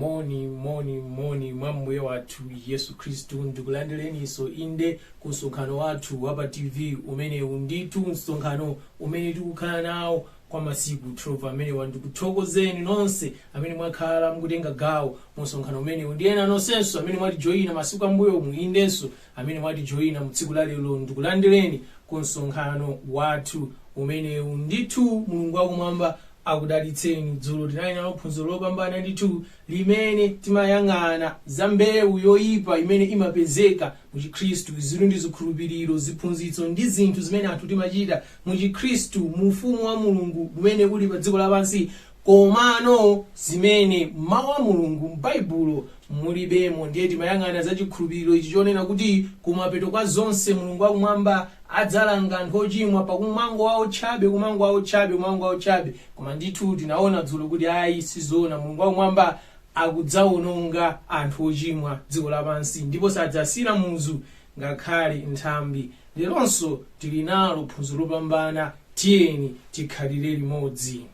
moni moni moni mwa mbuye wathu yesu khristu ndikulandireninso inde ku msonkhano wathu wa pa tv umenewu ndithu msonkhano umene tikukhala nawo kwa masiku 12 amenewa ndikuthokozeni nonse amene mwakhala mukutenga gawo mu msonkhano umenewu ndi ena nonsenso amene mwatijoyina masiku ambuyomu indenso amene mwatijoina mu tsiku la lero ndikulandireni ku msonkhano wathu umenewu. Ndithu Mulungu wakumwamba akudalitseni. Dzulo tinali nalo phunziro lopambana ndithu limene timayang'ana za mbewu yoyipa imene imapezeka mu Chikhristu, izitu ndi zikhulupiriro, ziphunzitso ndi zinthu zimene anthu timachita mu Chikhristu, mu ufumu wa Mulungu umene uli pa dziko lapansi Komano zimene m'Mau a Mulungu, m'Baibulo, mulibemo. Ndiye timayang'ana za chikhulupiriro ichi chonena kuti kumapeto kwa zonse Mulungu wa Kumwamba adzalanga anthu ochimwa pakumangowaotchabe, kumangowaotchabe, kumangowaotchabe. Koma ndithu tinaona dzulo kuti ayi sizoona. Mulungu wa Kumwamba akudzaononga anthu ochimwa, dziko lapansi, ndipo sadzasiyira muzu ngakhale nthambi. Leronso tili nalo phunziro lopambana. Tiyeni tikhalire limodzi.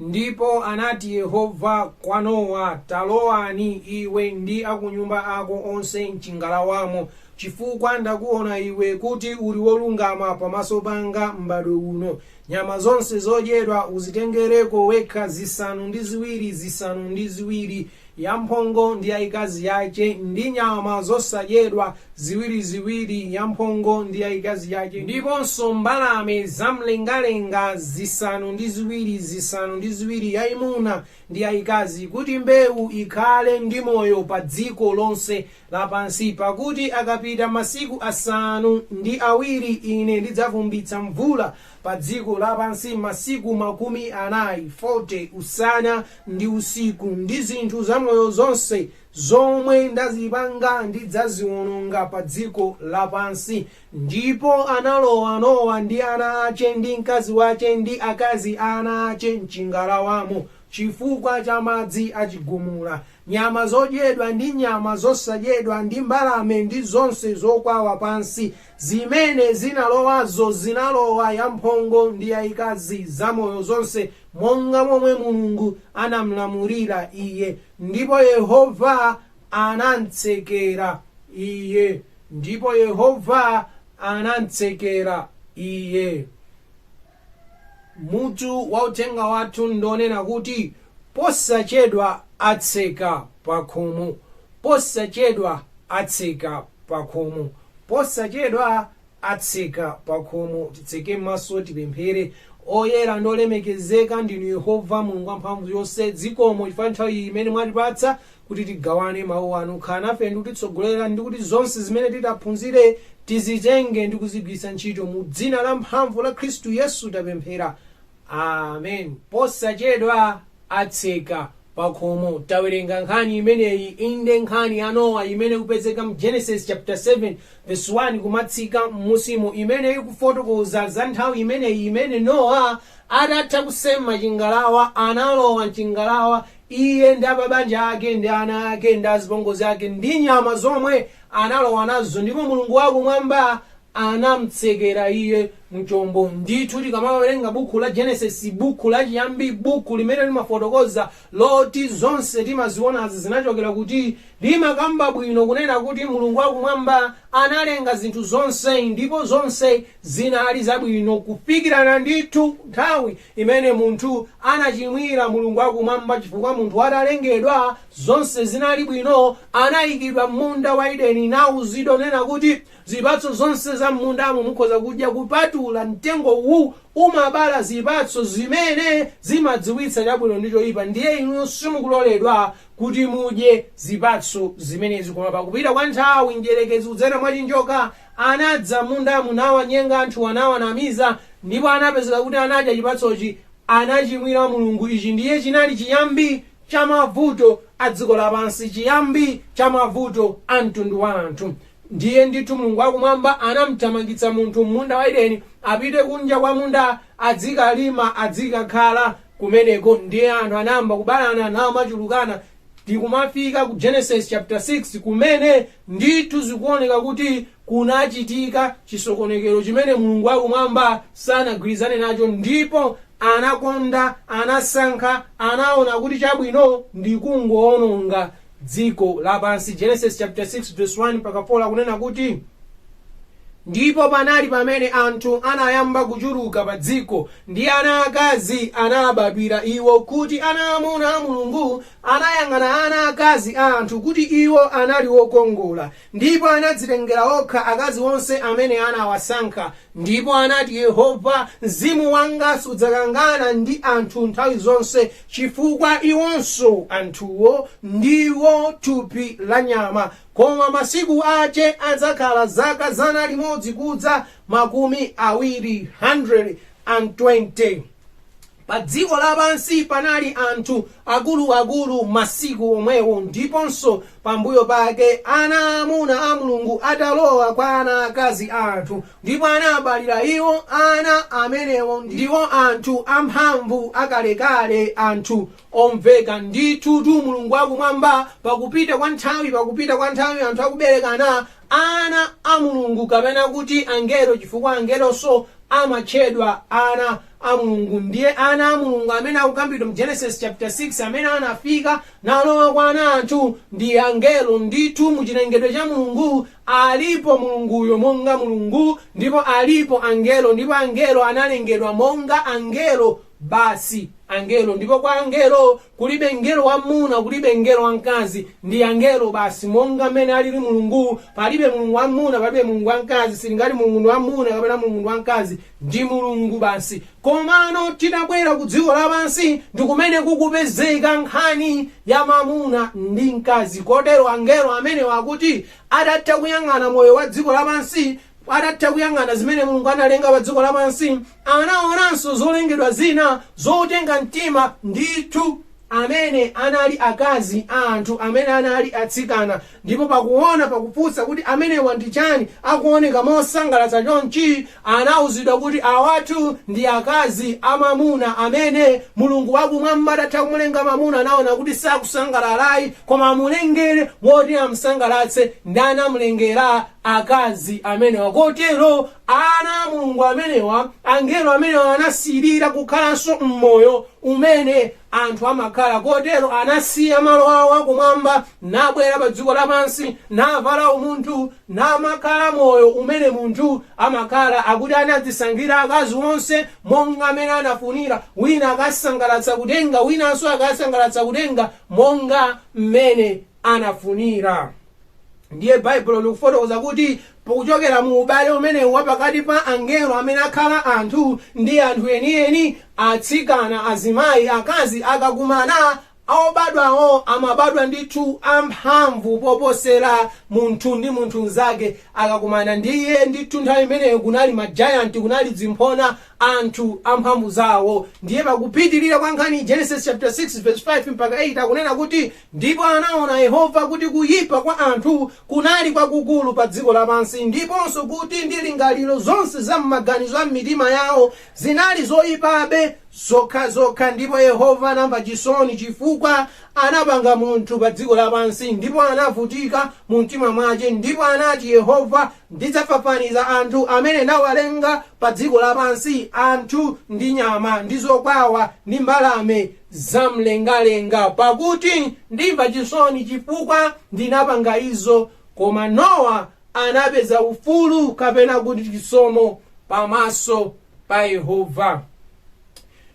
Ndipo anati Yehova kwa Nowa, Talowani, iwe ndi akunyumba ako onse m'cingalawamo, cifukwa ndakuona iwe kuti uli wolungama pamaso panga m'mbadwo uno. Nyama zonse zodyedwa uzitengereko wekha zisanu ndi ziwiri zisanu ndi ziwiri, yamphongo ndi yaikazi yace, ndi nyama zosadyedwa ziwiri ziwiri, yamphongo ndi yaikazi yace, ndiponso mbalame za m'mlengalenga zisanu ndi ziwiri, zisanu ndi ziwiri, yaimuna ndi yaikazi, kuti mbeu ikhale ndi moyo pa dziko lonse lapansi, pakuti akapita masiku asanu ndi awiri ine ndidzavumbitsa mvula pa dziko lapansi masiku makumi anayi usana ndi usiku, ndi zinthu zamoyo zonse zomwe ndazipanga ndidzaziwononga pa dziko lapansi. Ndipo analowa Nowa ndi ana ace, ndi mkazi wace, ndi akazi a ana ace, m'cingalawamo, Chifukwa cha madzi a chigumula, nyama zodyedwa ndi nyama zosadyedwa ndi mbalame ndi zonse zokwawa pansi zimene zinalowazo zinalowa yamphongo ndi yayikazi, zamoyo zonse, monga momwe Mulungu anamlamulira iye. Ndipo Yehova anamtsekera iye. Mutu wa uthenga wathu ndi wonena kuti posachedwa atseka pakhomo, posachedwa atseka pakhomo, posachedwa atseka pakhomo. Titseke maso tipemphere. Oyera ndi olemekezeka ndinu Yehova Mulungu wamphamvu yonse, zikomo chifukwa cha nthawi iyi imene mwatipatsa kuti tigawane mawu anu khala nafe ndi kutitsogolera ndi kuti zonse zimene titaphunzire tizitenge ndi kuzigwiritsa ntchito mu dzina la mphamvu la khristu yesu tapemphera amen posachedwa atseka pakhomo tawerenga nkhani imeneyi inde nkhani ya nowa imene ikupezeka mu genesis chapter 7 verse 1 kumatsika m'musimo imene ikufotokoza za nthawi imeneyi imene nowa atatha kusema chingalawa analowa mchingalawa Iye ndi apabanja ake ndi ana ake ndi azipongozi ake ndi nyama zomwe analowa nazo, ndipo Mulungu wa Kumwamba anamtsekera iye mu chombo. Ndithu, tikamawerenga Bukhu la Genesis, Bukhu la chiyambi, Bukhu limene limafotokoza loti zonse timazionazi zinachokera kuti, limakamba bwino kunena kuti Mulungu wa Kumwamba analenga zinthu zonse ndipo zonse zinali zabwino kufikirana ndithu nthawi imene munthu anachimwira Mulungu wa Kumwamba chifukwa munthu atalengedwa, zonse zinali bwino, anaikidwa m'munda wa Edeni nauzidwa nena kuti, Zipatso zonse za m'mundamo mukhoza kudya kupatula mtengo uwu, umabala zipatso zimene zimadziwitsa chabwino ndi choipa ndiye inu simukuloledwa kuti mudye zipatso zimenezi. Koma pakupita kwa nthawi, Mdyerekezi kudzera mwa chinjoka Anadza m'mundamu, nawanyenga anthu, anawanamiza, ndipo anapezeka kuti anadya chipatsochi, anachimwira Mulungu. Ichi ndiye chinali chiyambi cha mavuto a dziko lapansi, chiyambi cha mavuto a mtundu wa anthu. Ndiye ndithu Mulungu wa Kumwamba anamthamangitsa munthu m'munda wa Edeni, apite kunja kwa munda adzikalima, adzikakhala kumeneko. Ndiye anthu anayamba kubalana namachulukana, tikumafika ku genesis chapter 6 kumene ndithu zikuoneka kuti kunachitika chisokonekero chimene mulungu wakumwamba sanagwirizane nacho ndipo anakonda anasankha anaona kuti chabwino ndi kungoononga dziko lapansi genesis chapter 6 verse 1 mpaka 4 akunena kuti Ndipo panali pamene anthu anayamba kuchuluka pa dziko, ndi ana akazi anabadwira iwo, kuti ana amuna a Mulungu anayang'ana ana akazi a anthu, kuti iwo anali okongola, ndipo anadzitengera okha akazi onse amene anawasankha, ndipo anati, Yehova, mzimu wanga sudzakangana ndi anthu nthawi zonse, chifukwa iwonso, anthuwo, ndiwo thupi lanyama, Koma masiku ache adzakhala zaka zana limodzi kudza makumi awiri, 120. Pa dziko lapansi panali anthu akulu akulu masiku omwewo, ndiponso pambuyo pake, ana amuna a Mulungu atalowa kwa ana akazi a anthu, ndipo anabalira iwo ana, amenewo ndiwo anthu amphamvu akalekale, anthu omveka. Ndithutu, Mulungu wa Kumwamba, pakupita kwa nthawi, pakupita kwa nthawi anthu akuberekana ana a Mulungu, kapena kuti angelo, chifukwa angelonso amatchedwa ana a Mulungu. Ndiye ana a Mulungu amene akukambidwa mu Genesis chapter 6 amene anafika nalowa kwa ana anthu ndi angelo. Ndithu, mu chilengedwe cha Mulungu alipo Mulunguyo monga Mulungu, ndipo alipo angelo, ndipo angelo analengedwa monga angelo. basi angelo, ndipo kwa angelo kulibe mngelo wamuna, kulibe mngelo wamkazi, ndi angelo basi. Monga mmene alili Mulungu, palibe Mulungu wamuna, palibe Mulungu wamkazi, sitingati Mulungu ndi wamuna kapena Mulungu ndi wamkazi, ndi Mulungu basi. Komano titabwera ku dziko lapansi ndi kumene kukupezeka nkhani ya mamuna ndi mkazi, kotero angelo amenewa akuti adatha kuyang'ana moyo wa dziko lapansi adatha kuyang'ana zimene mulungu analenga pa dziko lapansi Anaonanso zolengedwa zina zotenga mtima ndithu, amene anali akazi a anthu amene anali atsikana, ndipo pakuona pakufunsa kuti amenewa ndi chani akuoneka mosangalatsa chonchi, anauzidwa kuti awatu ndi akazi a mamuna amene Mulungu wakumwamba atatha kumulenga mamuna anaona kuti sakusangalalayi koma amulengere woti amsangalatse ndiye anamulengera akazi amenewa kotero Ana a Mulungu amenewa, angelo amenewa anasirira kukhalanso m'moyo umene anthu amakhala, kotero anasiya malo awo akumwamba nabwera pa dziko lapansi navala umunthu namakhala moyo umene munthu amakhala, akuti anadzisankhira akazi onse monga mmene anafunira, wina akasangalatsa kutenga, winanso akasangalatsa kutenga monga m'mene anafunira ndiye baibulo likufotokoza kuti pakuchokera mu ubale umenewu wa pakati pa angelo amene akhala anthu ndi anthu enieni atsikana azimayi akazi akakumana obadwawo amabadwa ndithu amphamvu poposera munthu ndi munthu mnzake akakumana ndiye ndithu nthawi imeneyo kunali majayanti kunali dzimphona anthu amphamvu zawo ndiye pakupitirira kwa nkhani genesis chapter 6 verse 5 mpaka 8 akunena kuti Ndipo anaona Yehova kuti kuyipa kwa anthu kunali kwakukulu pa dziko lapansi, ndiponso kuti ndingaliro zonse za m'maganizo a m'mitima yawo zinali zoyipabe zokhazokha, ndipo Yehova anamva chisoni chifukwa anapanga munthu pa dziko lapansi, ndipo anavutika mu mtima mwache, ndipo anati Yehova, Ndidzafafaniza anthu amene ndawalenga pa dziko lapansi, anthu, ndi nyama, ndi zokwawa, ndi mbalame. zamlengalenga, pakuti ndimva chisoni chifukwa ndinapanga izo. Koma Nowa anapeza ufulu kapena kuti chisomo pamaso pa Yehova.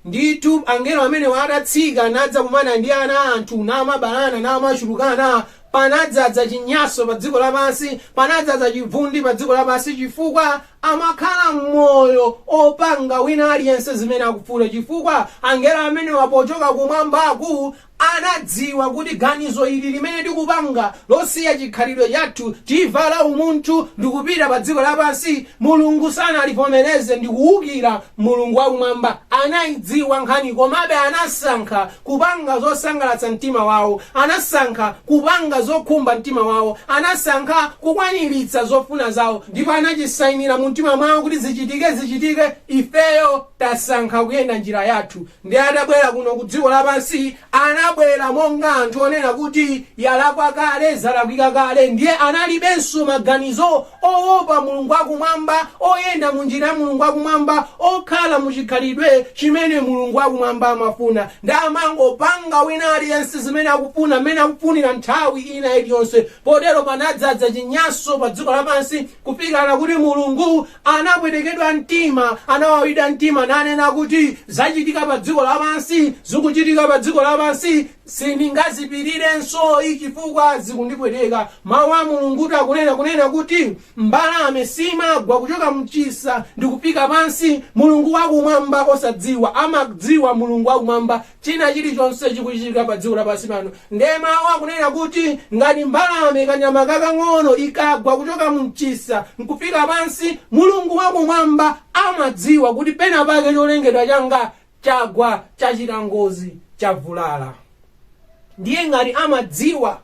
Ndithu angelo amenewa atatsika nadzakumana ndi ana a anthu namabalana namachulukana, panadzaza chinyanso pa dziko lapansi, panadzaza chivundi pa dziko lapansi chifukwa Amakhala moyo opanga wina aliyense zimene akufuna chifukwa angelo amenewa pochoka kumwambaku anadziwa kuti ganizo ili limene tikupanga losiya chikhalidwe chathu n'kuvala umunthu ndikupita padziko lapansi Mulungu sanalivomereze ndi kuukira Mulungu wakumwamba anaidziwa nkhaniyi komabe anasankha kupanga zosangalatsa mtima wawo, anasankha kupanga zokhumba mtima wawo, anasankha kukwaniritsa zofuna zawo, ndipo anachisainira mu mtima mwawo kuti zichitike zichitike, ifeyo tasankha kuyenda njira yathu, ndiye atabwera kuno ku dziko lapansi anabwera monga anthu onena kuti yalakwa kale, zalakwika kale, ndiye analibenso maganizo oopa Mulungu wa Kumwamba, oyenda mu njira ya Mulungu wa Kumwamba, okhala mu chikhalidwe chimene Mulungu wa Kumwamba amafuna, ndiye amangopanga wina aliyense zimene akufuna, mmene akufunira nthawi ina iliyonse. Potero panadzaza chinyanso pa dziko lapansi, kufikana kuti Mulungu anapwetekedwa mtima, anawawidwa mtima, nanena kuti, Zachitika pa dziko lapansi, zikuchitika pa dziko lapansi. Sindingazipirirensoyi chifukwa zikundipweteka. Mawu a Mulungutu akunena kunena kuti mbalame siimagwa kuchoka m'chisa ndi kufika pansi. Mulungu wa kumwamba osadziwa amadziwa Mulungu wa kumwamba china chilichonse chikuchitika pa dziko lapansi pano. Ndiye mawu akunena kuti ngati mbalame kanyama kakang'ono ikagwa kuchoka m'chisa nkufika pansi, Mulungu wa kumwamba amadziwa kuti pena pake cholengedwa changa chagwa chachita ngozi chavulala ndiye ngati amadziwa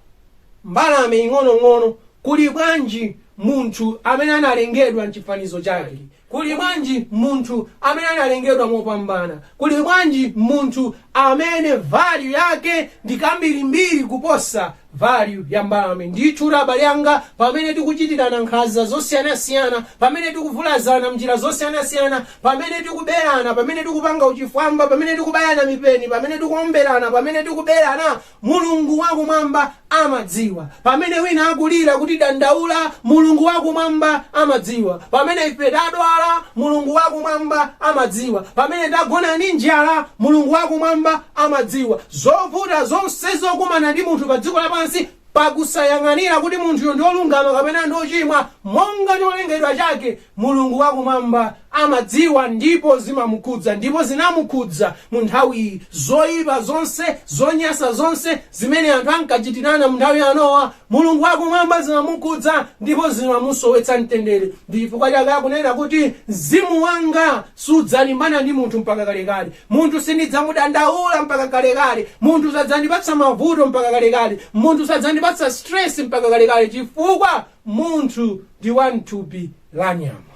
mbalame ing'onong'ono kuli bwanji munthu amene analengedwa mchifanizo chake kuli bwanji munthu amene analengedwa mopambana kuli bwanji munthu amene value yake ndi kambirimbiri kuposa Value ya mbalame ndithu abale anga pamene tikuchitirana nkhanza zosiyanasiyana, pamene tikuvulazana m'njira zosiyanasiyana, pamene tikuberana, pamene tikupanga uchifwamba, pamene tikubayana mipeni, pamene tikuomberana, pamene tikuberana. Mulungu wa Kumwamba amadziwa. Pamene wina akulira kutidandaula, Mulungu wa Kumwamba amadziwa. Pamene ife tadwala, Mulungu wa Kumwamba amadziwa. Pamene tagona ndi njala, Mulungu wa Kumwamba amadziwa zovuta zonse zokumana ndi munthu pa dziko lapansi pakusayang'anira kuti munthuyo ndi olungama kapena ndi ochimwa monga cholengedwa chake mulungu wakumwamba amadziwa ndipo zimamukhudza ndipo zinamukhudza mu nthawiyi zoyipa zonse zonyasa zonse zimene anthu ankachitirana mu nthawi ya nowa mulungu wakumwamba zimamukhudza ndipo zimamusowetsa mtendere ndi chifukwa chake akunena kuti mzimu wanga sudzalimbana ndi munthu mpaka kalekale Munthu sindidzamudandaula mpaka kalekale, munthu sadzandipatsa mavuto mpaka kalekale, munthu sadzandipatsa stress mpaka kalekale chifukwa munthu ndi wa m'thupi la nyama.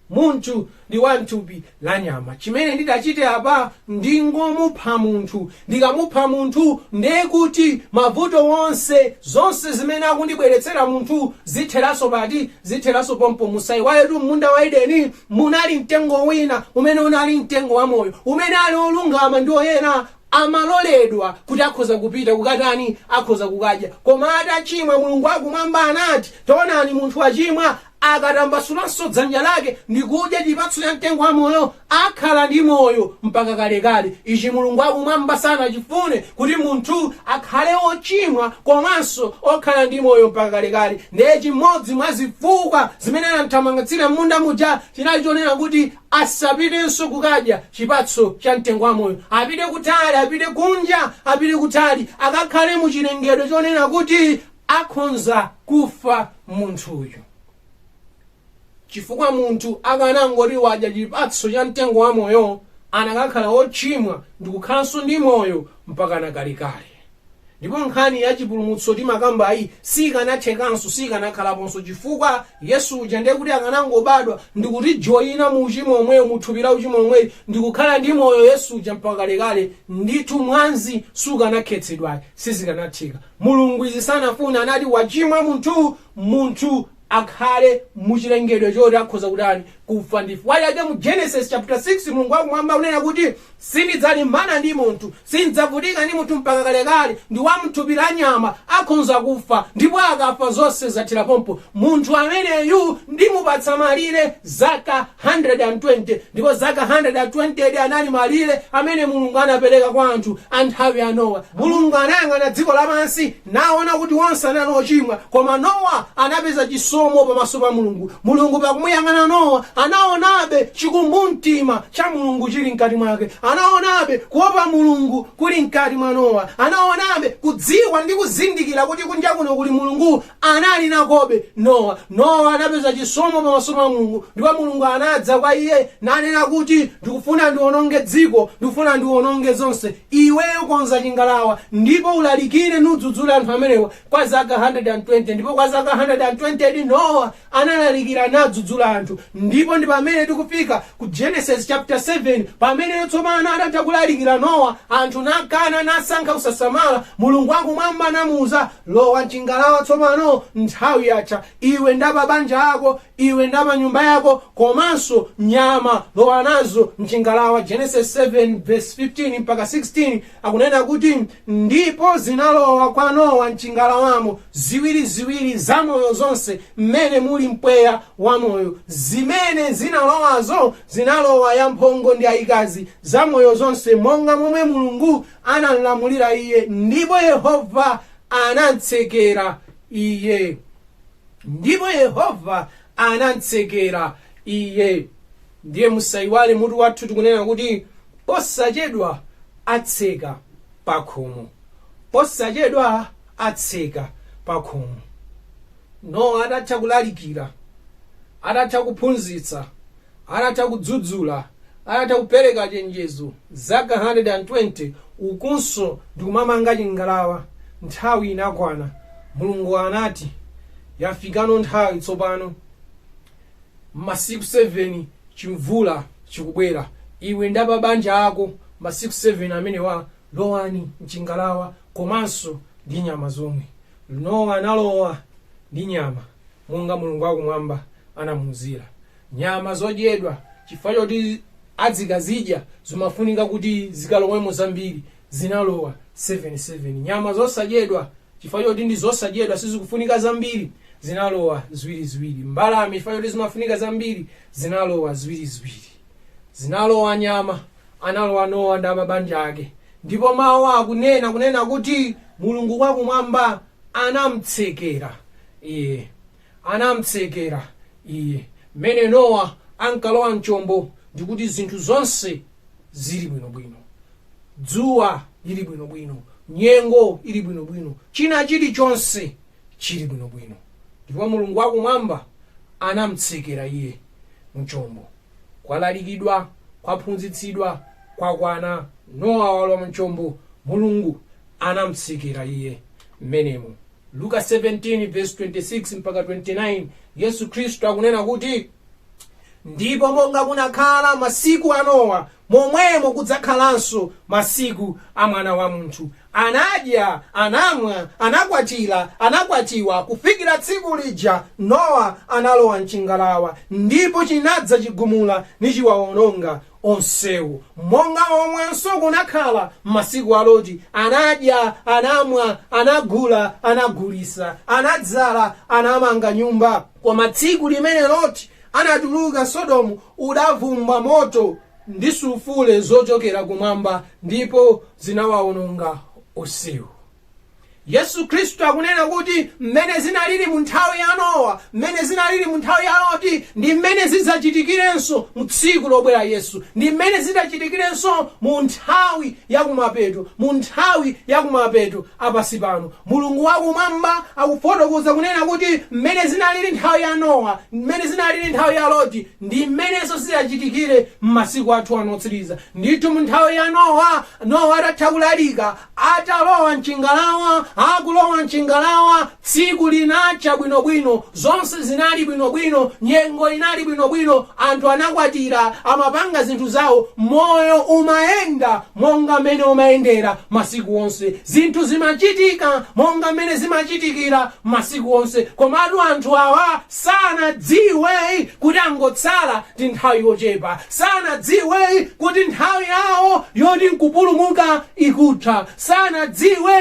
Munthu ndi wa m'thupi la nyama. Chimene ndingachite apa ndingomupha munthu Ndikamupha munthu ndiye kuti mavuto onse, zonse zimene akundibweretsera munthu zitheranso pati? Zitheranso pompo. Musaiwaletu m'munda wa Edeni munali mtengo wina umene unali mtengo wa moyo, umene ali olungama ndi oyera amaloledwa kuti akhoza kupita kukatani, akhoza kukadya. Koma atachimwa Mulungu wakumwamba anati, Taonani munthu wachimwa, Akatambasulanso dzanja lake ndi kudya chipatso cha mtengo wa moyo, akhala ndi moyo mpaka kalekale. Ichi Mulungu wa Kumwamba sanachifune, kuti munthu akhale wochimwa komanso okhala ndi moyo mpaka kalekale. Ndiye chimodzi mwa zifukwa zimene anamthamangatsira m'munda muja chinali chonena kuti asapitenso kukadya chipatso cha mtengo wa moyo. Apite kutali, apite kunja, apite kutali, akakhale mu chilengedwe chonena kuti akhonza kufa. munthuyu chifukwa munthu akanangoti wadya chipatso cha mtengo wa moyo akanakhala wochimwa ndikukhalanso ndi moyo mpaka nakalekale ndipo nkhani ya chipulumutso timakambayi sikanathekanso sikanakhalaponso chifukwa yesu uja ndiye kuti akanangobadwa ndikutijoyina mu uchimo omweyo muthupi la uchimo omweyo ndikukhala ndi moyo yesu uja mpaka kalekale ndithu mwanzi sukanakhetsedwayi sizikanatheka Mulungu izi sanafuna, anati, wachimwa munthu, munthu akhale mu chilengedwe choti akhoza kutani? kufa. Ndi chifukwa chake mu Genesis chaputa 6, Mulungu wa Kumwamba akunena kuti, Sindidzalimbana ndi munthu, sindidzavutika ndi munthu mpaka kalekale, ndi wa mthupi la nyama, akhonza kufa, ndipo akafa zonse zathera pompo. Munthu ameneyu ndimupatsa malire zaka 120, ndipo zaka 120 di anali malire amene Mulungu anapereka kwa anthu a m'nthawi ya Nowa. Mulungu anayang'ana dziko lapansi naona kuti onse anali ochimwa, koma Nowa anapeza chisomo pamaso pa Mulungu. Mulungu pakumuyang'ana Nowa anaonabe chikumbumtima cha Mulungu chili mkati mwake, anaonabe kuopa Mulungu kuli mkati mwa Nowa, anaonabe kudziwa ndi kuzindikira kuti kunja kuno kuli Mulungu anali nakobe Nowa. Nowa anapeza chisomo pamaso pa Mulungu, ndipo Mulungu anadza kwa iye nanena kuti, Ndikufuna ndiwononge dziko, ndikufuna ndiwononge zonse. Iweyo konza chingalawa ndipo ulalikire nudzudzule anthu amenewa kwa zaka 120. Ndipo kwa zaka 120 di Nowa analalikira nadzudzula anthu, ndipo ndi pamene tikufika ku Genesis chapter 7, pamene tsopano atatha kulalikira Nowa, anthu nakana, nasankha kusasamala, Mulungu wa Kumwamba anamuuza, Lowa m'chingalawa tsopano, nthawi yatha, iwe ndi apabanja ako, iwe ndi apanyumba yako, komanso nyama, lowa nazo m'chingalawa, Genesis 7 verse 15-16, Akunena kuti, Ndipo zinalowa kwa Nowa m'chingalawamo ziwiri ziwiri zamoyo zonse m'mene muli mpweya wa moyo, zimene zinalowazo zinalowa yamphongo ndi yaikazi, zamoyo zonse, monga momwe Mulungu anamlamulira iye, ndipo Yehova anamtsekera iye. ndipo Yehova anamtsekera iye. Ndiye musaiwale mutu wathu tikunena kuti posachedwa atseka pakhomo. Posachedwa atseka pakhomo. Nowa atatha kulalikira, atatha kuphunzitsa, atatha kudzudzula, atatha kupereka chenjezo zaka 120 ukunso ndikumamanga chingalawa, nthawi inakwana. Mulungu anati, Yafikano nthawi tsopano. masiku 7 chimvula chikubwera iwe ndi apabanja ako masiku 7 amenewa lowani mchingalawa komanso ndi nyama zomwe nowa analowa ndi nyama monga mulungu wakumwamba anamuuzira nyama zodyedwa chifukwa choti adzikazidya zimafunika kuti zikalowemo zambiri zinalowa 7 7 nyama zosadyedwa Chifukwa choti ndi zosadyedwa, sizikufunika zambiri, zinalowa ziwiriziwiri. Mbalame, chifukwa choti zimafunika zambiri, zinalowa ziwiriziwiri. Zinalowa nyama, analowa Nowa ndi apabanja ake. Ndipo mawu akunena kunena kuti Mulungu wakumwamba anamtsekera iye. anam'tsekera iye. Mmene Nowa ankalowa m'chombo ndi kuti zinthu zonse zili bwinobwino. Dzuwa lili bwinobwino, nyengo ili bwinobwino, china chilichonse chili bwinobwino. Ndipo Mulungu wa Kumwamba anam'tsekera iye m'chombo. Kwalalikidwa, kwaphunzitsidwa, kwakwana, Nowa walowa m'chombo, Mulungu anamtsekera Iye mmenemo. Luka 17 vesi 26 mpaka 29 Yesu Khristu akunena kuti ndipo monga kunakhala masiku a Nowa momwemo kudzakhalanso masiku a mwana wa munthu anadya anamwa anakwatira anakwatiwa kufikira tsiku lija nowa analowa mchingalawa ndipo chinadza chigumula nichiwawononga onsewo. Monga momwenso kunakhala m'masiku a Loti, anadya, anamwa, anagula, anagulisa, anadzala, anamanga nyumba. Koma tsiku limene Loti anatuluka Sodomu udavumba moto ndi sulfure zochokera kumwamba, ndipo zinawaononga onsewo. yesu khristu akunena kuti mmene zinalili mu nthawi ya nowa mmene zinalili mu nthawi ya loti ndi mmene zidzachitikirenso mu tsiku lobwera yesu ndi mmene zidzachitikirenso mu nthawi yakumapeto mu nthawi yakumapeto a pansi pano mulungu wakumwamba akufotokoza kunena kuti mmene zinalili nthawi ya nowa mmene zinalili nthawi ya loti ndi mmenenso zidzachitikire m'masiku athu ano otsiriza ndithu mu nthawi ya nowa nowa atatha kulalika Atalowa m'chingalawa, Akulowa m'chingalawa, Tsiku linacha bwinobwino, Zonse zinali bwinobwino, Nyengo inali bwinobwino, Anthu anakwatira, Amapanga zinthu zawo, Moyo umayenda monga mmene umayendera masiku onse, Zinthu zimachitika monga mmene zimachitikira masiku onse. Komatu anthu awa sanadziwe kuti angotsala ndi nthawi yochepa, sanadziwe kuti nthawi yawo yoti n'kupulumuka ikutha. Sanadziwe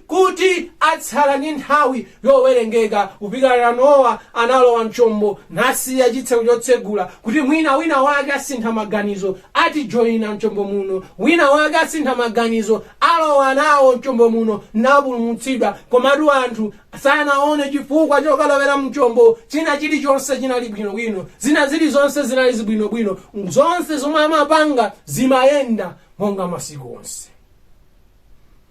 kuti atsala ndi nthawi yowerengeka Kufikana. Nowa analowa m'chombo nasiya chitseko chotsegula kuti mwina winawake asintha maganizo, atijoina m'chombo muno. Winawake asintha maganizo, alowa nawo m'chombo muno napulumutsidwa. Komatu anthu Sanawone chifukwa chokalowera mchombo. China chili chonse chinali bwino bwino. Zina zili zonse zinali zili bwino bwino. Zonse zomwe amapanga zimayenda monga masiku onse.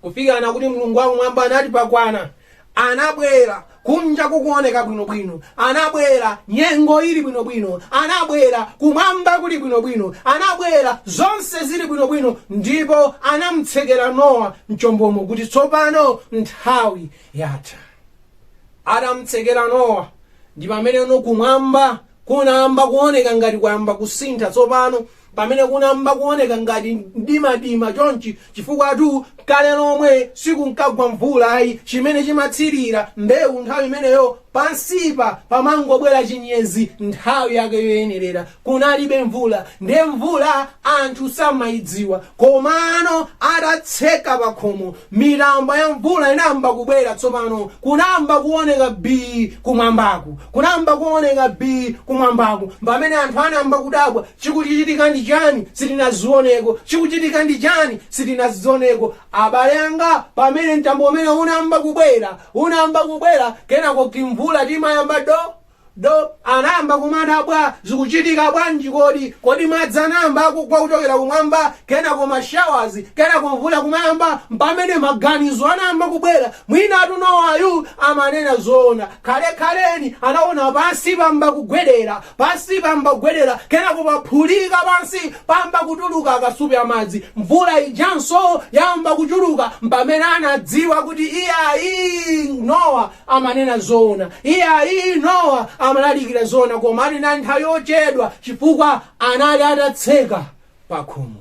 Kufikana kuti Mulungu wa kumwamba anati pakwana. Anabwera, kunja kukuwoneka bwino bwino. Anabwera, nyengo ili bwino bwino. Anabwera, kumwamba kuli bwino bwino. Anabwera, zonse zili bwino bwino. Ndipo anamutsekera Nowa mchombomo kuti tsopano nthawi yatha. Atam'tsekera Nowa, ndi pameneno kumwamba kunayamba kuoneka ngati kwayamba kusintha tsopano, pamene kunayamba kuoneka ngati mdimadima chonchi, chifukwatu kale lomwe sikunkagwa mvula ayi. Chimene chimatsirira mbewu nthawi imeneyo, pansipa pamangobwera chinyezi nthawi yake yoyenerera. kunalibe mvula nde mvula anthu samaidziwa komano atatseka pakhomo mitambo ya mvula inayamba kubwera tsopano kunayamba kuoneka bii kumwambaku kunayamba kuoneka bii kumwambaku pamene anthu anayamba kudabwa chikuchitika ndi chani sitinazioneko chikuchitika ndi chani sitinazioneko abale anga pamene mtambo umene unayamba kubwera unayamba kubwera kenako timvula timayamba do Do anayamba kumadabwa, Zikuchitika bwanji kodi? Kodi madzi anayamba kugwa kuchokera kumwamba, kenako ma showers, kenako mvula kumayamba? Mpamene maganizo anayamba kubwera, Mwinatu Nowayu amanena zoona. Khale khaleni anaona pansi pamba kugwedera, pansi pamba kugwedera, kenako paphulika pansi pamba kutuluka akasupe amadzi. Mvula ijanso yamba kuchuluka, mpamene anadziwa kuti iyayi Nowa amanena zoona. Iyayi, Nowa amalalikira zoona koma inali nthawi yochedwa chifukwa anali atatseka pakhomo.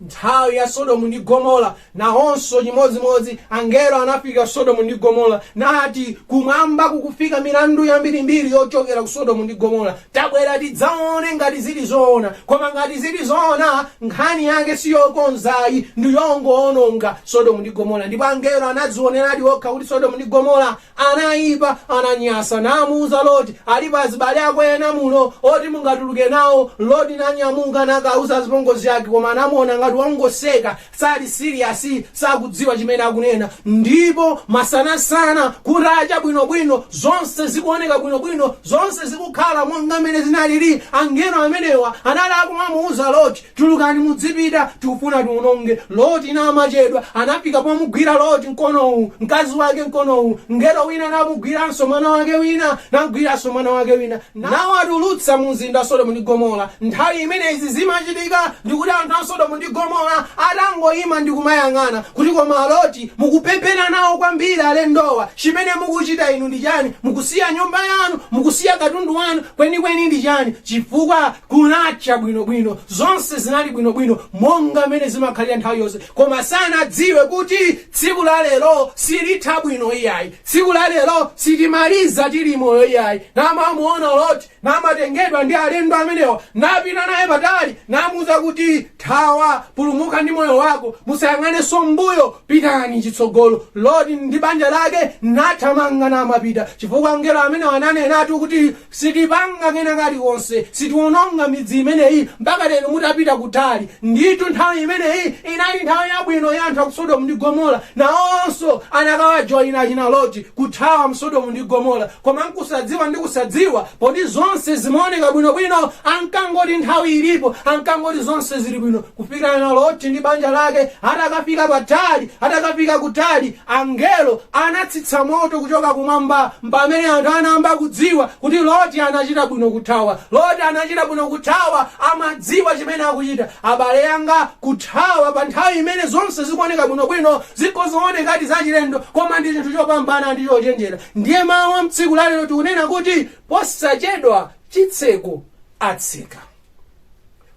Nthawi ya Sodomu ndi Gomora nawonso chimodzimodzi angelo anafika Sodomu ndi Gomora nati kumwamba kukufika milandu yambirimbiri yochokera ku Sodomu ndi Gomora Tabwera tidzaone ngati zili zoona. Koma ngati zili zoona, nkhani yake si yokonza ayi, ndi yongowononga Sodomu ndi Gomora. Ndipo angelo anadzioneradi okha kuti Sodomu ndi Gomora anaipa, ananyasa, namuuza Loti, Alipo azibale ako ena muno oti mungatuluke nawo? Loti nanyamuka nakauza azipongozi ake, koma anamuona ngati wongoseka, Sali serious, sakudziwa chimene akunena ndipo masanasana kutacha bwinobwino zonse zikuoneka bwinobwino, zonse zikukhala monga mmene zinalili. Angelo amenewa anali akumamuuza Loti, Tulukani mudzipita, tikufuna tiwononge. Loti namachedwa anafika pomugwira Loti mkono uwu, mkazi wake mkono uwu. Mngelo wina namugwiranso mwana wake wina, namgwiranso mwana wake wina. nawatulutsa mu mzinda wa Sodomu ndi Gomora. Nthawi imene izi zimachitika ndi kuti anthu a Sodomu ndi Gomora atangoima ndi kumayang'ana, kuti koma a Loti, mukupepera nawo kwambiri alendowa, chimene mukuchita inu ndi chani? Mukusiya nyumba yanu? Mukusiya katundu wanu? Kwenikweni ndi chani? Chifukwa kunacha bwino bwino. Zonse zinali bwino bwino monga mmene zimakhalira nthawi yonse. Koma sanadziwe kuti tsiku la lero silitha bwino iyayi. Tsiku la lero sitimaliza tili moyo iyayi. Namamuona Loti, namatengedwa ndi alendo amenewa, napita naye patali, namuuza kuti, Thawa, pulumuka ndi moyo wako, musayang'anenso m'mbuyo, pitani chitsogolo. Loti ndi banja lake nathamanga namapita, chifukwa angelo amenewa ananenatu kuti, Sitipanga kena kalikonse, sitiwononga midzi imeneyi mpaka inu mutapita kutali. Ndithu nthawi imeneyi inali nthawi yabwino ya anthu a ku Sodomu ndi Gomora. Nawonso akanawajoina achina Loti, kuthawa mu Sodomu ndi Gomora. Koma n'kusadziwa ndi kusadziwa, poti zonse zimaoneka bwinobwino, ankangoti nthawi ilipo, ankangoti zonse zili bwino, kufikira naLoti ndi banja lake atakafika patali, atakafika kutali. Angelo anatsitsa moto kuchoka kumwamba. Mpamene anthu anayamba kudziwa kuti Loti anachita bwino kuthawa. Loti anachita bwino kuthawa. Amadziwa chimene akuchita. Abale anga, kuthawa pa nthawi imene zonse zikuoneka bwinobwino zikhoza kuoneka ngati zachilendo, koma ndi chinthu chopambana ndi chochenjera. Ndiye mawu a m'tsiku la lero tikunena kuti, Posachedwa chitseko atseka.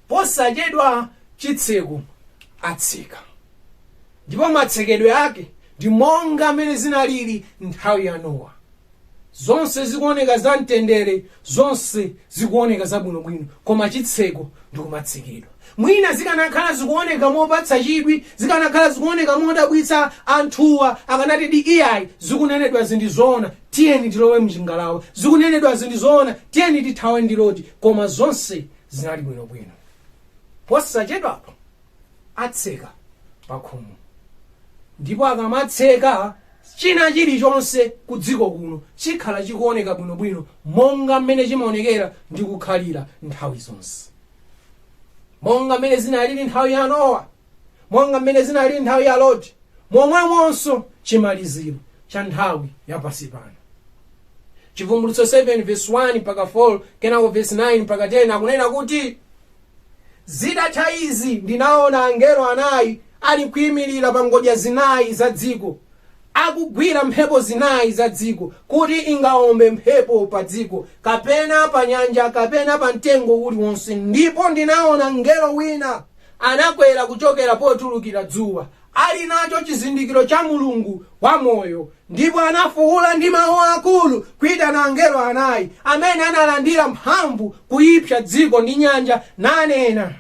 Posachedwa chitseko atseka. Ndipo matsekedwe ake ndi monga mmene zinalili nthawi ya Nowa. Zonse zikuoneka zamtendere, zonse zikuoneka zabwinobwino, koma chitseko ndi kumatsekedwa. Mwina zikanakhala zikuoneka mopatsa chidwi, zikanakhala zikuoneka modabwitsa, anthuwa akanatidi iyayi, zikunenedwazi ndi zoona, tiyeni tilowe m'chingalawa, zikunenedwazi ndi zoona, tiyeni tithawe ndi Loti. Koma zonse zinali bwinobwino. Posachedwapa atseka pakhomo ndipo akamatseka china chilichonse ku dziko kuno chikhala chikuoneka bwinobwino monga mmene chimaonekera ndi kukhalira nthawi zonse monga mmene zinalili nthawi ya nowa monga mmene zinalili nthawi ya loti momwemonso chimaliziro cha nthawi ya pansi pano chivumbulutso 7 verse 1 mpaka 4 kenako verse 9 mpaka 10 akunena kuti Zitatha izi ndinaona angelo anayi alikuimirira pa ngodya zinayi za dziko, akugwira mphepo zinayi za dziko, kuti ingawombe mphepo pa dziko, kapena pa nyanja, kapena pa mtengo uliwonse. Ndipo ndinaona mngelo wina anakwera kuchokera potulukira dzuwa, ali nacho chizindikiro cha Mulungu wamoyo, ndipo anafuula ndi mawu akulu kuitana angelo anayi amene analandira mphamvu kuipsa dziko ndi nyanja, nanena,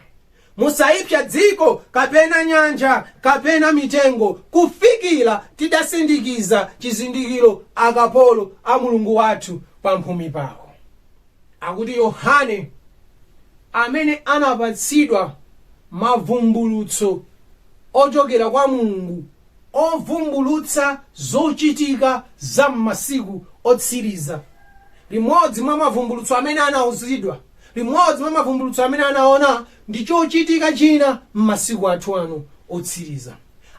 Musaipsa dziko, kapena nyanja, kapena mitengo, kufikira tidasindikiza chizindikiro akapolo a Mulungu wathu pamphumi pawo. Akuti Yohane, amene anapatsidwa mavumbulutso ochokera kwa Mulungu ovumbulutsa zochitika za m'masiku otsiriza. Limodzi mwa mavumbulutso amene anauzidwa, limodzi mwa mavumbulutso amene anaona ndi chochitika china m'masiku athu ano otsiriza.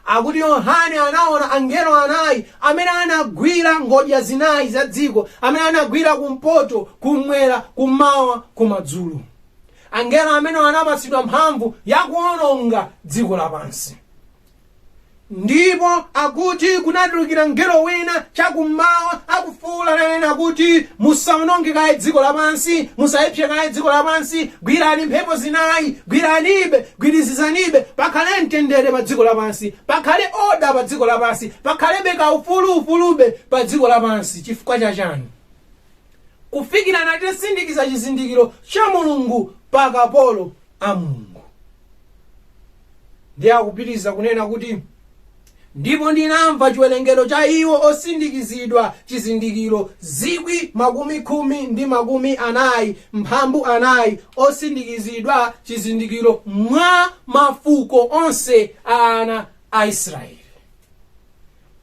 Akuti Yohane anaona angelo anayi amene anagwira ngodya zinayi za dziko, amene anagwira kumpoto, kum'mwera, kum'mawa, kumadzulo. Angelo amenewa anapatsidwa mphamvu ya kuwononga dziko lapansi. Ndipo akuti kunatulukira mngelo wina chakummawa akufuula nanena kuti, Musawononge kaye dziko lapansi, musaipse kaye dziko lapansi, gwirani mphepo zinayi, gwiranibe, gwirizizanibe, pakhale mtendere pa dziko lapansi, pakhale oda pa dziko lapansi, pakhalebe kaufulu ufulube pa dziko lapansi. Chifukwa cha chani? kufikira na titasindikiza chizindikiro cha mulungu pa akapolo a mulungu ndiye akupitiriza kunena kuti ndipo ndinamva chiwerengero cha iwo osindikizidwa chizindikiro zikwi makumi khumi ndi makumi anayi mphambu anayi osindikizidwa chizindikiro mwa mafuko onse a ana a israeli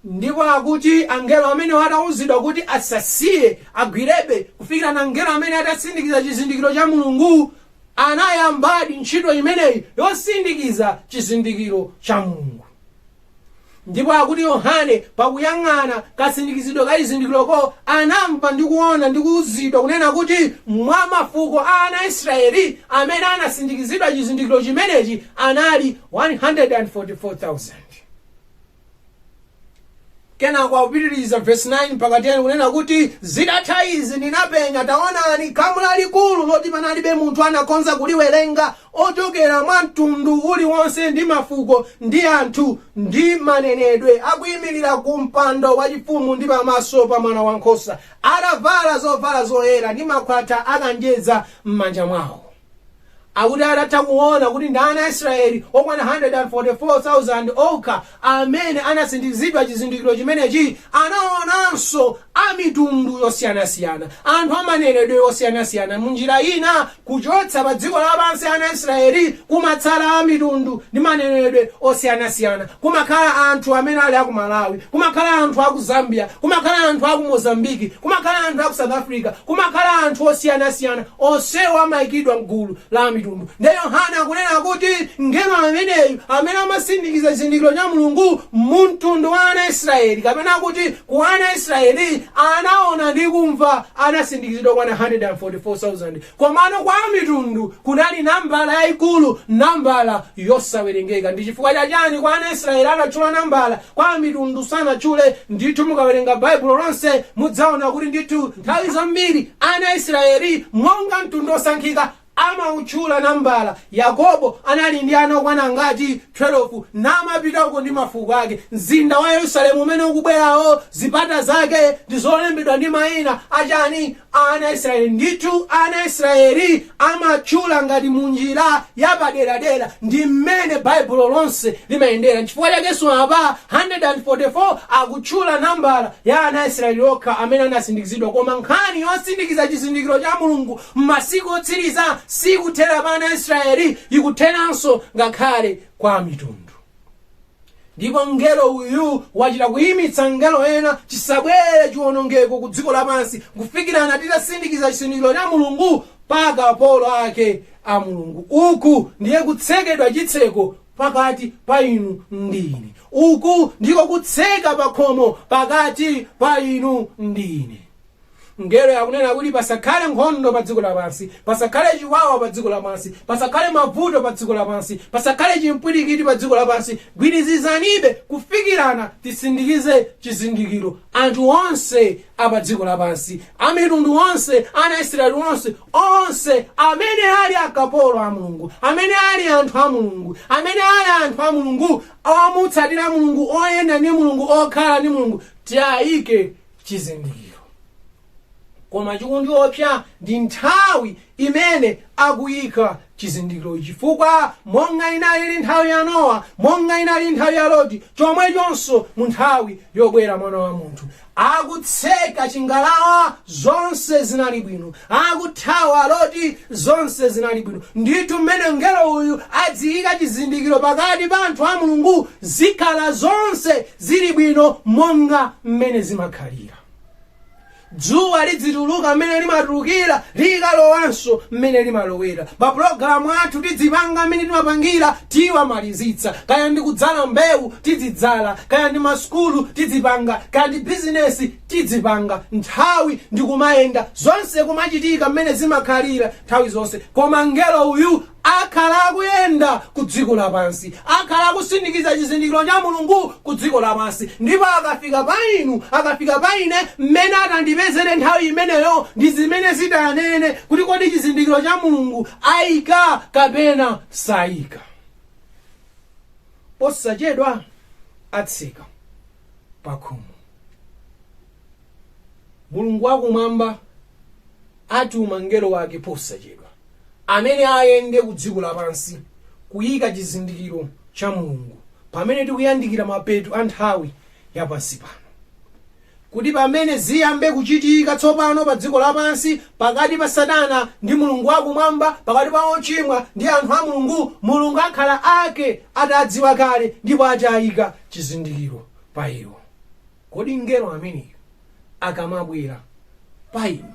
Ndipo akuti angelo amenewo atauzidwa kuti asasiye, agwirebe kufikira na mngelo ameneyu atasindikiza chizindikiro cha Mulungu, anayambadi ntchito imeneyi yosindikiza chizindikiro cha Mulungu. Ndipo akuti Yohane pakuyang'ana kasindikizidwe ka chizindikiroko, anamva ndi kuona ndi kuuzidwa kunena kuti mwa mafuko a ana a Israeli amene anasindikizidwa chizindikiro chimenechi anali 144,000. kenako akupitiriza vesi 9 mpaka 10 kunena kuti zitatha izi ndinapenya taonani khamu lalikulu loti panalibe munthu anakhoza kuliwerenga ochokera mwa mtundu uliwonse ndi mafuko ndi anthu ndi manenedwe akuyimirira ku mpando wachifumu ndi pamaso pa mwana wankhosa atavala zovala zoyera ndi makhwatha a kanjedza m'manja mwawo Akuti atatha kuona kuti ndi ana a Isiraeli okwana 144,000 okha amene anasindikizidwa chizindikiro chimenechi, anaonanso a mitundu yosiyanasiyana, anthu a manenedwe osiyanasiyana. M'njira ina, kuchotsa padziko lapansi ana a Isiraeli kumatsala a mitundu ndi manenedwe osiyanasiyana. Kumakhala anthu amene ali aku Malawi, kumakhala anthu aku Zambia, kumakhala anthu aku Mozambique, kumakhala anthu aku South Africa, kumakhala anthu osiyanasiyana, onsewo amaikidwa m'gulu la Amitundu. Ndiye Yohane akunena kuti mngelo ameneyu amene amasindikiza chizindikiro cha Mulungu mumtundu wa ana a Israeli, kapena kuti ku ana a Israeli, anaona ndi kumva, anasindikizidwa okwana 144,000. Komano kwa Amitundu kunali nambala yaikulu, nambala yosawerengeka. Ndi chifukwa cha chani kwa ana Israeli anatchula nambala, kwa Amitundu sanatchule? Ndithu mukawerenga Baibulo lonse mudzaona kuti ndithu nthawi zambiri ana Israeli monga mtundu osankhika amautchula nambala. Yakobo anali ndi ana okwana angati? 12, namapitako ndi mafuko ake. Mzinda wa Yerusalemu umene ukubwerawo, zipata zake ndi zolembedwa ndi maina a chani? ana a Israyeli. Ndithu ana a Israyeli amatchula ngati munjira yapaderadera ndi mmene Baibulo lonse limayendera. Nchifukwa chakenso apa 144 akutchula nambala ya ana a Israyeli okha amene anasindikizidwa, koma nkhani yosindikiza chizindikiro cha Mulungu m'masiku otsiriza sikuthera pa ana a Israyeli, ikutheranso ngakhale kwa amitundu. Ndipo mngelo uyu wachita kuyimitsa angelo ena, chisabwere chiwonongeko ku dziko lapansi kufikirana titasindikiza chizindikiro cha Mulungu pa akapolo ake a Mulungu. Uku ndiye kutsekedwa chitseko pakati pa inu ndi ine. Uku ndiko kutseka pakhomo pakati pa inu ndi ine. Mngelo akunena kuti pasakhale nkhondo pa dziko lapansi, pasakhale chiwawa pa dziko lapansi, pasakhale mavuto pa dziko lapansi, pasakhale chimpwirikiti pa dziko lapansi. Gwirizizanibe kufikirana tisindikize chizindikiro. Anthu onse a pa dziko lapansi, a mitundu onse, ana a Israeli onse, onse amene ali akapolo a Mulungu, amene ali anthu a Mulungu, amene ali anthu a Mulungu, omutsatira Mulungu, oyenda ndi Mulungu, okhala ndi Mulungu, tiaike chizindikiro koma chikundiopsa ndi nthawi imene akuyika chizindikiro chifukwa monga inalili nthawi ya nowa monga inalili nthawi ya loti chomwechonso mu nthawi yobwera mwana wa munthu akutseka chingalawa zonse zinali bwino akuthawa loti zonse zinali bwino ndithu mmene mngelo uyu adziyika chizindikiro pakati pa anthu a mulungu zikhala zonse Zili bwino monga mmene zimakhalira. Dzuwa lidzituluka mmene limatulukira, likalowanso mmene limalowera. Mapulogalamu athu tidzipanga mmene timapangira, tiwamalizitsa. Kaya ndi kudzala mbewu, tidzidzala. Kaya ndi masukulu, tidzipanga. Kaya ndi bizinesi, tidzipanga. Nthawi ndi kumayenda, zonse kumachitika mmene zimakhalira nthawi zonse. Koma mngelo uyu akhala akuyenda ku dziko lapansi, akhala akusindikiza chizindikiro cha Mulungu ku dziko lapansi, ndipo akafika pa inu, akafika pa ine, mmene atandipezere nthawi imeneyo, ndi zimene zitanene kuti kodi chizindikiro cha Mulungu aika kapena saika. Posachedwa atseka pa khomo. mulungu wakumwamba atuma mngelo wake posachedwa amene ayende ku dziko lapansi kuyika chizindikiro cha mulungu pamene tikuyandikira mapeto a nthawi ya pansi pano kuti pamene ziyambe kuchitika tsopano pa dziko lapansi pakati pa satana ndi mulungu wakumwamba pakati pa ochimwa ndi anthu a mulungu mulungu akhala ake atadziwa kale ndipo atayika chizindikiro pa iwo Kodi mngelo ameneyu akamabwera pa inu,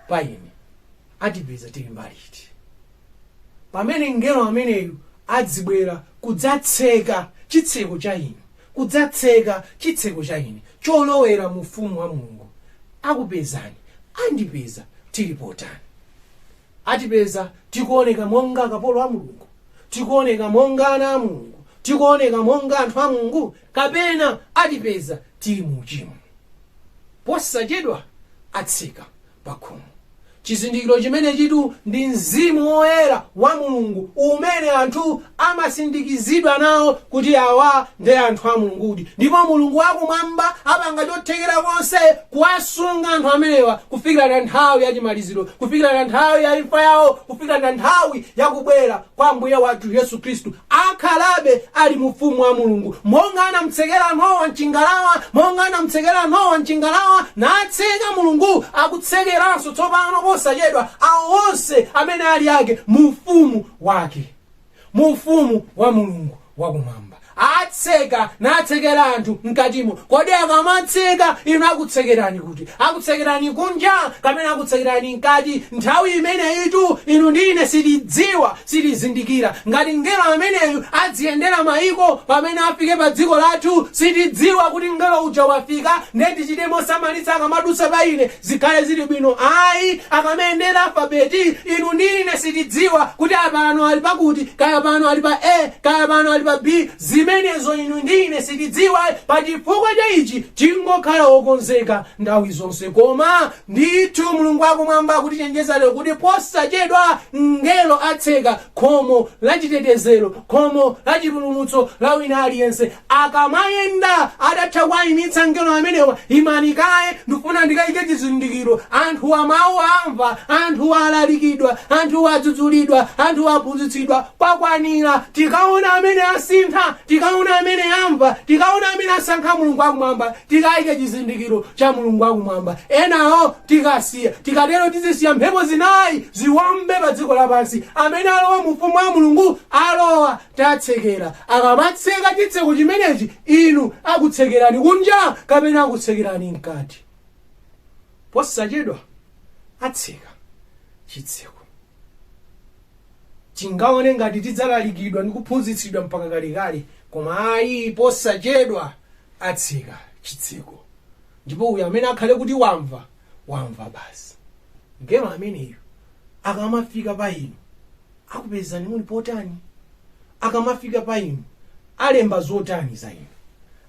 pa ine, atipeza tili mbali iti? Pamene mngelo ameneyu adzibwera kudzatseka chitseko cha inu, kudzatseka chitseko cha ine cholowera mu Ufumu wa Mulungu, akupezani, andipeza tili potani? atipeza, tikuoneka monga akapolo a Mulungu? Tikuoneka monga ana a Mulungu? Tikuoneka monga anthu a Mulungu? Kapena atipeza tili mu uchimo? Posachedwa atseka pa khomo. Chizindikiro chimenechitu ndi mzimu woyera wa Mulungu umene anthu amasindikizidwa nawo kuti awa ndi anthu a Mulungudi ndipo Mulungu wakumwamba apanga chothekera konse kuwasunga anthu amenewa kufikira na nthawi ya chimaliziro, kufikira na nthawi ya imfa yawo, kufikira na nthawi ya kubwera kwa Ambuye wathu Yesu Khristu, akhalabe ali mu Ufumu wa Mulungu. Monga anamtsekera Nowa m'chingalawa, monga anamtsekera Nowa m'chingalawa, natseka Mulungu akutsekeranso tsopano posachedwa awo onse amene ali ake mu Ufumu wake. mu ufumu wa mulungu wakumwamba atseka natsekera anthu mkatimo kodi akamatseka inu akutsekerani kuti akutsekerani kunja kapena akutsekerani mkati nthawi imeneyitu inu ndi ine sitidziwa sitizindikira ngati mngelo ameneyu adziyendera mayiko pamene afike pa dziko lathu sitidziwa kuti mngelo uja wafika ndiye tichite mosamalitsa akamadutsa pa ine Zikhale zili bwino ayi akamayendera alfabeti inu ndi ine sitidziwa kuti apano ali pakuti kaya pano ali pa A kaya pano ali pa B zimenezo inu ndi ine sitidziwa pachifukwa cha ichi tingokhala okonzeka nthawi zonse koma ndithu Mulungu wakumwamba akutichenjeza lero kuti posachedwa mngelo atseka khomo la chitetezero khomo la chipulumutso la wina aliyense Akamayenda atatha kuwaimitsa angelo amenewa, Imani kaye, ndifuna ndikaike chizindikiro. Anthuwa mawu amva, anthuwa alalikidwa, anthuwa adzudzulidwa, anthuwa aphunzitsidwa. Kwakwanira. Tikaona amene asintha, tikaona amene amva, tikaona amene asankha Mulungu wakumwamba, tikaike chizindikiro cha Mulungu wakumwamba. Enawo tikasiya. Tikatero tizisiya mphepo zinayi ziwombe padziko lapansi. Amene alowa mu Ufumu wa Mulungu alowa. tatsekera. Akamatseka chitseko chimenechi, inu akutsekerani kunja kapena akutsekerani mkati? Posachedwa atseka chitseko. Tingaone ngati tidzalalikidwa ndi kuphunzitsidwa mpaka kalekale, koma ayi, posachedwa atseka chitseko. Ndipo uyo amene akhale kuti wamva, wamva basi. Mngelo ameneyu akamafika pa inu, akupezani muli potani akamafika pa inu alemba zotani za inu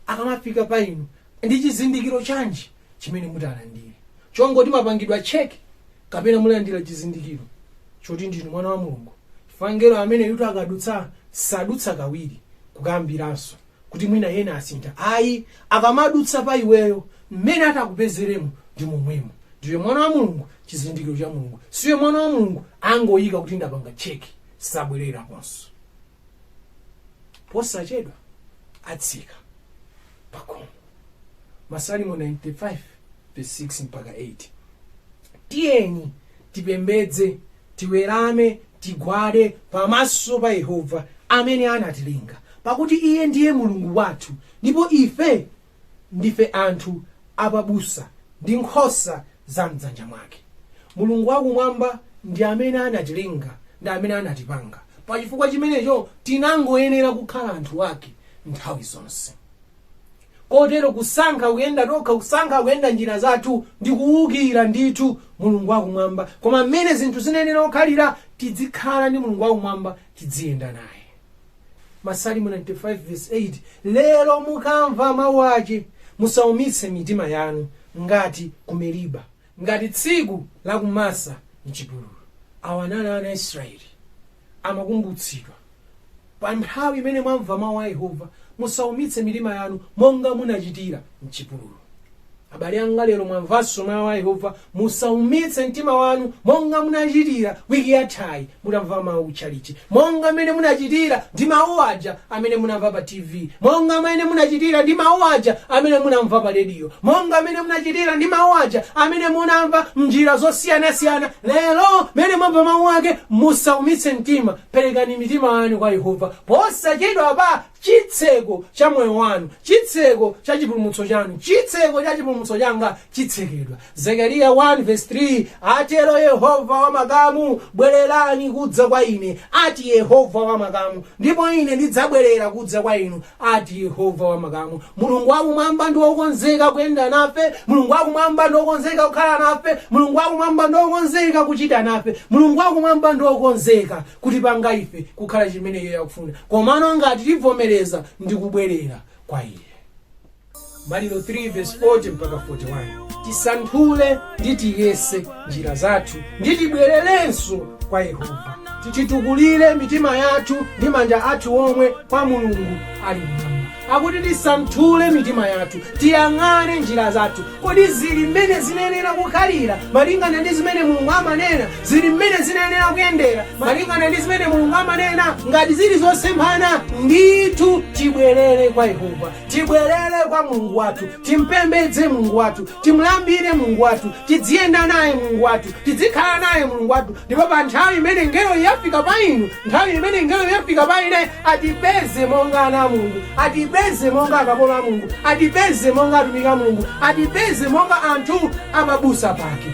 akamafika pa inu ndi chizindikiro chanji chimene mutalandire chongoti mwapangidwa cheki kapena mulandira chizindikiro choti ndinu mwana wa mulungu chifukwa mngelo ameneyutu akadutsa sadutsa kawiri kukambiranso kuti mwina ena asintha ayi akamadutsa pa iweyo mmene atakupezeremo ndi momwemo ndiwe mwana wa mulungu chizindikiro cha mulungu siwe mwana wa mulungu angoyika kuti ndapanga cheki sabwereraponso posachedwa atseka pakhomo masalimo 95 verse 6 mpaka 8 tiyeni tipembedze tiwerame, tigwade pamaso pa Yehova amene anatilenga, pakuti iye ndiye Mulungu wathu ndipo ife ndife anthu apabusa ndi nkhosa za m'dzanja mwake. Mulungu wakumwamba ndi amene anatilenga, ndi amene anatipanga. Pa chifukwa chimenecho, tinangoyenera kukhala anthu ake nthawi zonse. Kotero kusankha kuyenda tokha, kusankha kuyenda njira zathu, ndi kuwukira ndithu Mulungu wa Kumwamba. Koma mmene zinthu zinayenera kukhalira, tidzikhala ndi Mulungu wa Kumwamba, tidziyenda naye. Masalimo 95 vesi 8, Lero mukamva mau ace, musaumitse mitima yanu, ngati ku Meriba. ngati tsiku la ku masa mchipululu awa anali ana israeli amakumbutsidwa pa nthawi imene mwamva mawu a yehova musaumitse mitima yanu monga munachitira mchipululu abale anga lero mwamvanso mawu a yehova musaumitse mtima wanu monga munachitira wiki yathayi Mutamva mau kuchalichi monga mmene munacitira ndi mau aja amene munamva pa TV, monga mmene munacitira ndi mau aja amene munamva pa rediyo, monga mmene munacitira ndi mau aja amene munamva m'njira zosiyana-siyana. Lero mmene mwamva mau ake, musaumitse mtima. Perekani mitima yanu kwa Yehova posacedwapa. Citseko ca moyo wanu, citseko ca cipulumutso canu, citseko ca cipulumutso canga citsekedwa. Zekariya 1 vesi 3 atero yehova wa makamu, bwererani kudza kwa ine, ati yehova wa makamu, ndipo ine ndidzabwerera kudza kwa inu, ati yehova wa makamu. Mulungu wakumwamba ndi wokonzeka kuyenda nafe, Mulungu wakumwamba ndi wokonzeka kukhala nafe, Mulungu wakumwamba ndi wokonzeka kuchita nafe, Mulungu wakumwamba ndi wokonzeka kutipanga ife kukhala chimene iye akufuna, komano ngati tivomereza ndi kubwerera kwa iye. Maliro 3 vesi 40 mpaka 41 tisanthule ndi tiyese njira zathu ndi tibwererenso kwa yehova titukulire mitima yathu ndi manja athu omwe kwa mulungu ali mmwamba akuti tisanthule mitima yathu tiyang'ane njira zathu kodi zili mmene zinayenera kukhalira malingana ndi zimene mulungu amanena zili mmene zinayenera kuyendera malingana ndi zimene mulungu amanena ngati zili zosemphana ndithu tibwerere kwa yehova Tibwerere kwa Mulungu wathu, timpembedze Mulungu wathu, timlambire Mulungu wathu, tidziyenda naye Mulungu wathu, tidzikhala naye Mulungu wathu. Ndipo pa nthawi imene ngelo yafika pa inu, nthawi imene ngelo yafika pa ine, atipeze monga ana a Mulungu, atipeze monga akapolo a Mulungu, atipeze monga atumiki a Mulungu, atipeze monga anthu amabusa pake.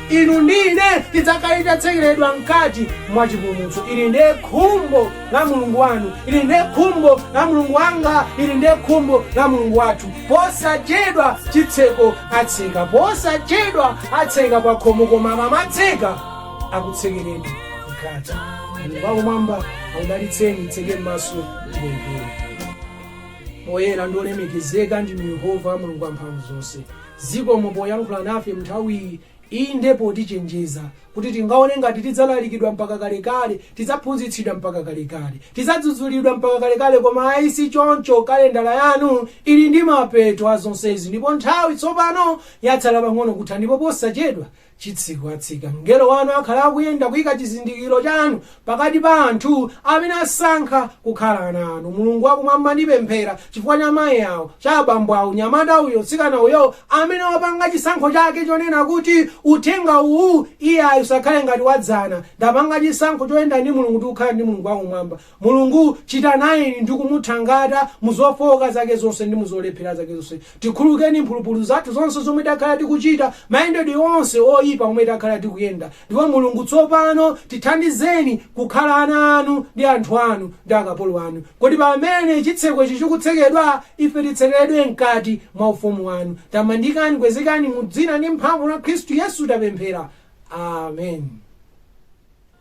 Inu ndi ine tidzakhale tatsekeredwa mkati mwa chipulumutso. Ili ndiye khumbo la Mulungu wanu, ili ndiye khumbo la Mulungu wanga, ili ndiye khumbo la Mulungu wathu. Posachedwa chitseko atseka, posachedwa atseka pa khomo, koma akamatseka akutsekereni mkati. Mulungu wakumwamba akudalitseni, titseke m'maso tipemphere. Oyera ndi olemekezeka ndinu Yehova Mulungu wamphamvu zonse. Zikomo poyankhula nafe m'nthawiyi. Inde, potichenjeza kuti tingaone ngati tidzalalikidwa mpaka kalekale, tidzaphunzitsidwa mpaka kalekale, tidzadzudzulidwa mpaka kalekale, koma ayi si choncho, kalendala yanu ili ndi mapeto a zonsezi ndipo nthawi tsopano yatsala pang'ono kutha ndipo posachedwa chitseko atseka mngelo wanu akhala akuyenda kuika chizindikiro chanu pakati pa anthu amene asankha kukhala ana anu. Mulungu wa kumwamba ndipemphera chifukwa cha mayi awo, cha abambo awo, nyamata uyo, tsikana uyo amene wapanga chisankho chake chonena kuti uthenga uwu iyayi usakhale ngati wa dzana. Ndapanga chisankho choyenda ndi Mulungu ndi kukhala ndi Mulungu wa kumwamba. Mulungu, chita nayeni ndi kumuthangata mu zofooka zake zonse ndi mu zolephera zake zonse. Tikhululukeni mphulupulu zathu zonse zomwe takhala tikuchita, mayendedwe onse oipa omwe takhala tikuyenda. Ndipo Mulungu, tsopano tithandizeni kukhala ana Anu ndi anthu Anu, ndi akapolo Anu. Kuti pamene chitseko ichi chikutsekedwa, ife titsekeredwe mkati mwa Ufumu Wanu. Tamandikani, kwezekani, mu Dzina ndi mphamvu la Khristu Yesu tapemphera. Amen.